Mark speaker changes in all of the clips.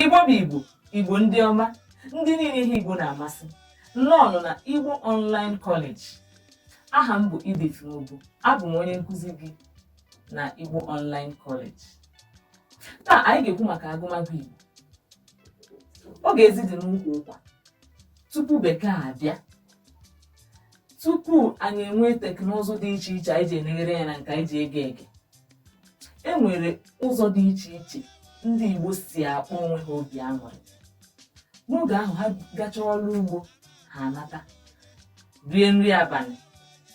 Speaker 1: igbo bụ igbo igbo ndị ọma ndị niile ihe igbo na-amasị nnọọnụ na igbo online college aha m bụ Edith Nwogbu abụ m onye nkụzi gị na igbo online college taa anyị ga-ekwu maka agụmagụ igbo oge ezi dị n'ukwu ụkwa tupu bekee abịa tupu anyị enwee teknụzụ dị iche iche anyị ji eleghere ya na nke anyị ji ege ege e nwere ụzọ dị iche iche ndị Igbo si akpa onwe ha obi aṅụrị n'oge ahụ ha gachaa ọrụ ugbo ha anata rie nri abalị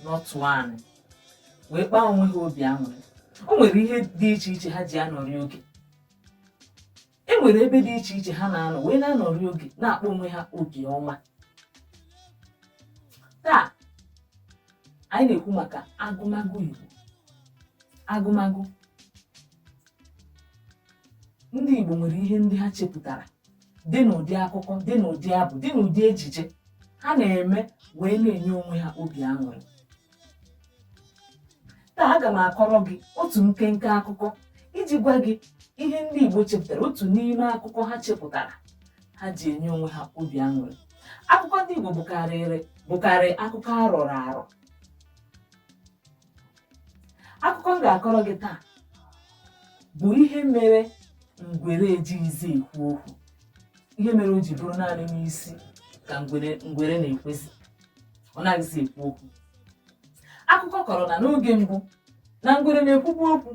Speaker 1: n'ọtụ anị wee kpaa onwe ha obi aṅụrị o nwere ihe dị iche iche ha ji anọrị oge e nwere ebe dị iche iche ha na-anọ wee na-anọrị oge na-akpa onwe ha obi ọma taa anyị na-ekwu maka agụmagụ Igbo agụmagụ ndị Igbo nwere ihe ndị ha chepụtara dị n'ụdị akụkọ dị n'ụdị abụ dị n'ụdị ejije ha na-eme wee na-enye onwe ha obi aṅụrị taa aga m akọrọ gị otu nkenke akụkọ iji gwa gị ihe ndị Igbo chepụtara otu n'ime akụkọ ha chepụtara ha ji enye onwe ha obi aṅụrị akụkọ ndị Igbo bụkarị akụkọ arọrọ arọ akụkọ m ga-akọrọ gị taa bụ ihe mere ngwere ejighịzi ekwu okwu ihe mere o ji bụrụ naanị n'isi ka ngwere na-ekwezi ọ naghịzi ekwu okwu akụkọ kọrọ na n'oge mbụ na ngwere na-ekwubu okwu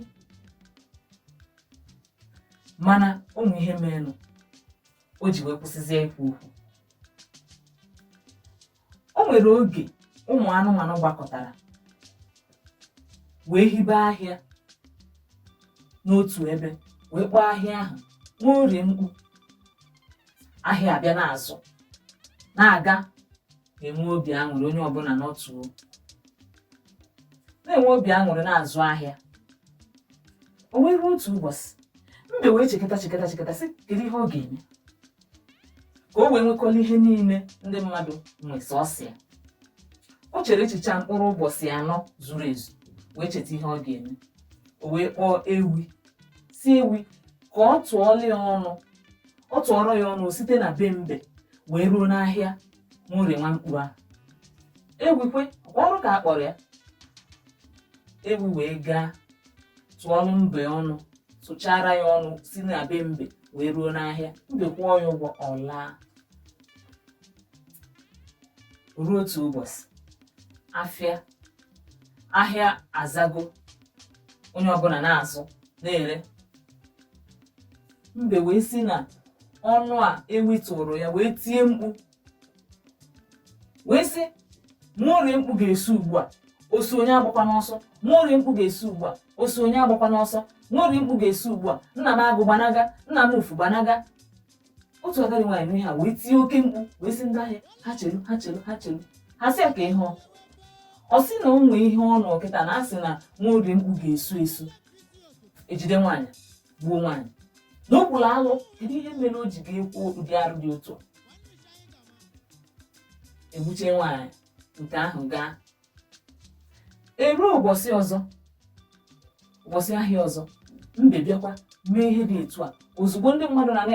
Speaker 1: mana ụmụ ihe merenụ o ji wee kwụsịzie ikwu okwu o nwere oge ụmụ anụmanụ gbakọtara wee hibe ahịa n'otu ebe wee kpọọ ahịa ahụ Nworie Mkpu ahịa abịa na-azụ na-aga na-enwe obi aṅụrị onye ọbụla nọtụ na-enwe obi aṅụrị na-azụ ahịa o wee ruo otu ụbọchị mbe wee chekata chekata chekata sị kedu ihe ọ ga-eme ka o wee nwekọla ihe niile ndị mmadụ nwe sọsọ ya o chere echiche a mkpụrụ ụbọchị anọ zuru ezu wee cheta ihe ọ ga-eme o wee kpọọ ewi sị ewi ka ọ tụọrọ ya ọnụ site na be mbe wee ruo n'ahịa nwaorie mkpu ahụ ewi kwekwa ọrụ ka a kpọrọ ya ewi wee gaa tụọrụ mbe ọnụ tụchara ya ọnụ si na be mbe wee ruo n'ahịa mbe kwụọ ya ụgwọ ọ laa ruo otu ụbọchị afịa ahịa azago onye ọbụla na-azụ na-ere mbe wee si na ọnụ a ewi tụrụ ya wee tie mkpu wee sị nwaorie mkpu ga-esu ugbu a o su onye agbakwa n'ọsọ nwaorie mkpu ga-esu ugbu a o su onye agbakwa n'ọsọ nwaorie mkpu ga-esu ugbu a nna m agụ gbanaga nna m ufu gbanaga otu agadi nwaanyị nụ ihe a wee tie oke mkpu wee sị ndị ahịa ha chelu ha chelu ha chelu ha sị ya kee ihe ọ sị na o nwee ihe ọ nụ kịta na-asị na nwaorie mkpu ga-esu esu ejide nwaanyị gbuo nwaanyị na o kwuru alụ kedu ihe mere o ji ga-ekwu ụdị arụ dị otu a? egbuche nwaanyị nke ahụ gaa eruo ụbọchị ọzọ ụbọchị ahịa ọzọ mbe bịakwa mee ihe dị etu a ozugbo ndị mmadụ na na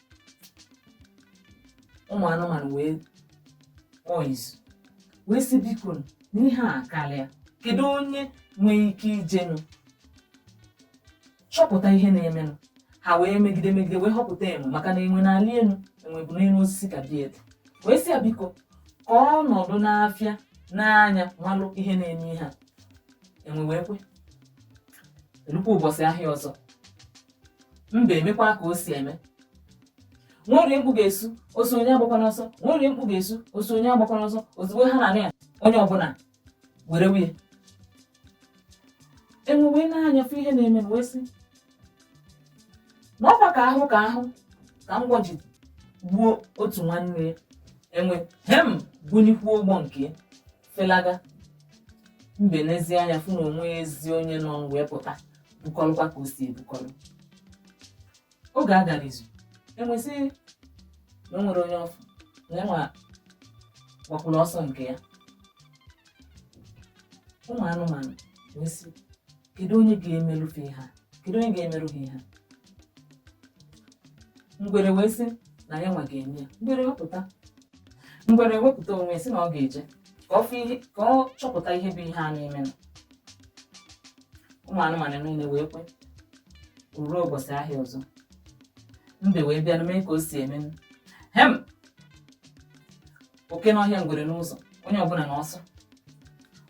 Speaker 1: ụmụ anụmanụ wee kpọọ izu wee sị biko na ihe a akarịa kedu onye nwere ike ijenụ chọpụta ihe na-emenụ ha wee megide megide wee họpụta enwe maka na enwe na-alị elu enwe bụ n'elu osisi ka dị elu wee sị ya biko ka ọ nọdụ n'afịa nee anya malụ ihe na-eme ihe a enwe wee kwe elukwa ụbọchị ahịa ọzọ mbe emekwa ka o si eme nwaorie mkpu ga-esu o su onye agbakwa n'ọsọ nwaorie mkpu ga-esu o su onye agbakwa n'ọsọ ozugbo ha na-anụ ya onye ọbụla were wụnye enwe wee nee anya fụ ihe na-eme wee sị na ọkwa ka a hụ ka a hụ ka mgbọ ji gbuo otu nwanne ya enwe hem bunikwuo ụgbọ nke ya felaga mbe neezie anya fụ na o nweezi onye nọ wee pụta bukọrọkwa ka o si ebukọrọ oge a gara izu enwe sị na o nwere onye ọ fụ na enwe gbakwuru ọsọ nke ya ụmụ anụmanụ wee sị kedu onye ga-emerufe ha kedu onye ga-emerụ ha ihe ngwere wee sị na ya nwa ga-eme ya ngwere wepụta ngwere wepụta onwe ya sị na ọ ga-eje ka ọ fụ ihe ka ọ chọpụta ihe bụ ihe a na-emenụ ụmụ anụmanụ niile wee kwe o ruo ụbọchị ahịa ọzọ mbe wee bịa mee ka o si eme hem oke n'ọhịa ngwere n'ụzọ onye ọbụla n'ọsọ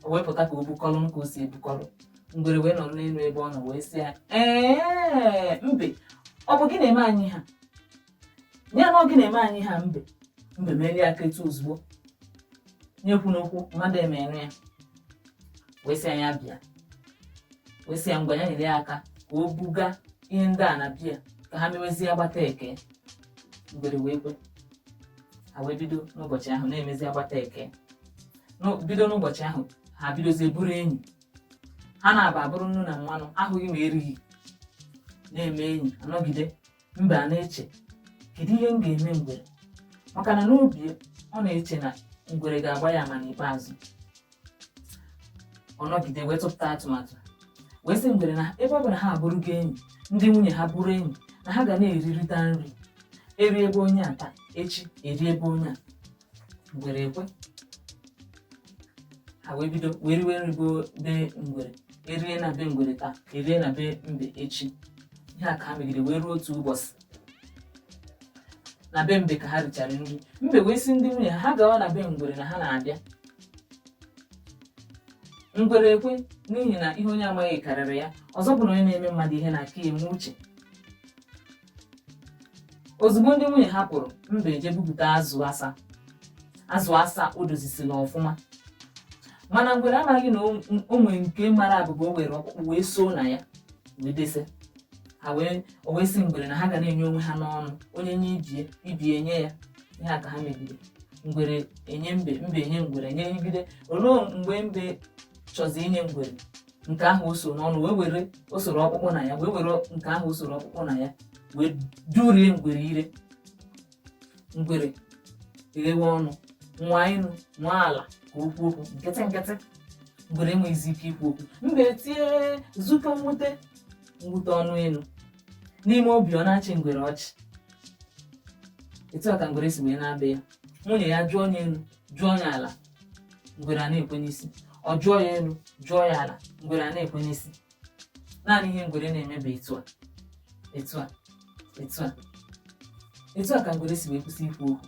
Speaker 1: o wee pụta ka o bukọlụ ka o si ebukọlụ ngwere wee nọrọ n'elu ebe ọ nọ wee sị ya ee mbe ọ bụ gị na-eme anyị ihe a ya na ọ gị na-eme anyị ihe a mbe mbe melie aka etu ozugbo ya ekwuna okwu mmadụ emee nụ ya wee sị ya bịa wee sị ya ngwa ya nyere ya aka ka o buga ihe ndị a na be ya ka ha mewezie agbata ekee ngwere wee kwe ha wee bido n'ụbọchị ahụ na-emezi agbata ekee bido n'ụbọchị ahụ ha bidozie bụrụ enyi ha naabọ abụrụ nnu na mmanụ ahụghị ma erighị na-eme enyi anọgide mbe a na-eche kedu ihe m ga-eme ngwere maka na n'obi ya ọ na-eche na ngwere ga-agba ya ama n'ikpeazụ ọ nọgide wee tụpụta atụmatụ wee sị ngwere na ebe ọ bụ na ha abụrụgo enyi ndị nwunye ha bụrụ enyi na ha ga na-erirịta nri erie be onye a taa echi erie be onye a ngwere ekwe ha wee bido wee riwe nri be ngwere erie na be ngwere taa erie na be mbe echi ihe a ka ha megide wee ruo otu ụbọchị na be mbe ka ha richara nri mbe wee sị ndị nwunye ha ha gawa na be ngwere na ha na-abịa ngwere ekwe n'ihi na ihe onye amaghị karịrị ya ọzọ bụ na onye na-eme mmadụ ihe na-aka ya enwe uche ozugbo ndị nwunye ha pụrụ mbe eje bupụta azụ asa o dozisiri ọfụma mana ngwere amaghị na o- o nwere nke mara abụba o were ọkpụkpụ wee soo na ya wee dese ha wee o wee sị ngwere na ha ga na-enye onwe ha n'ọnụ onye nye ibie ibie enye ya ihe a ka ha megide ngwere enye mbe mbe enye ngwere e nyegide o luo mgbe mbe chọzi inye ngwere nke ahụ o so n'ọnụ wee were o soro ọkpụkpụ na ya wee were nke ahụ o soro ọkpụkpụ na ya wee durie ngwere ire ngwere eghewe ọnụ nwaa enu nwaa ala ka o kwuo okwu nkịtị nkịtị ngwere enweghịzi ike ikwu okwu mbe tie zukọ mwute mwute ọnụ elu n'ime obi ọ na-achị ngwere ọchị etu a ka ngwere si wee naa be ya nwunye ya jụọ ya elu jụọ ya ala ngwere a na-ekwe n'isi ọ jụọ ya elu jụọ ya ala ngwere a na-ekwe n'isi naanị ihe ngwere na-eme bụ etu a etu a etu a etu a ka ngwere si wee kwụsị ikwu okwu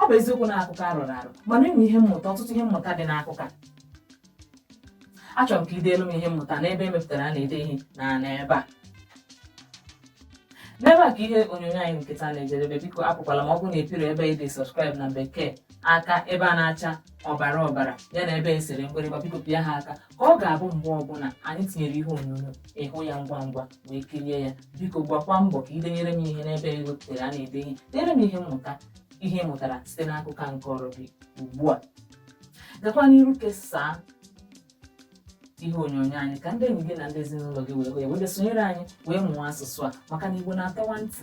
Speaker 1: ọ bụ eziokwu na akụkọ a rọrọ arọ mana e nwere ihe mmụta ọtụtụ ihe mmụta dị n'akụkọ a achọrọ m ka i deelu m ihe mmụta n'ebe e mepụtara a na-ede ihe na n'ebe a n'ebe a ka ihe onyonyo anyị nke taa na-ejedebe biko apụkwala ma ọ bụrụ na ị pịro ebe e dere subscribe na bekee aka ebe a na-acha ọbara ọbara ya na ebe e sere mgbịrịgba biko pịa ha aka ka ọ ga-abụ mgbe ọbụla anyị tinyere ihe onyonyo ị hụ ya ngwa ngwa wee kirie ya biko gbakwa mbọ ka i denyere m ihe n'ebe e wepụtara a na-ede ihe denyere m ihe mmụta ihe ị mụtara site n'akụkọ a m kọọrọ gị ugbu a gakwa n'iru kesaa ihe onyonyo anyị ka ndị enyi gị na ndị ezinụlọ gị wee hụ ya wee bịa sonyere anyị wee mụọ asụsụ a maka na igbo na-atọwa ntị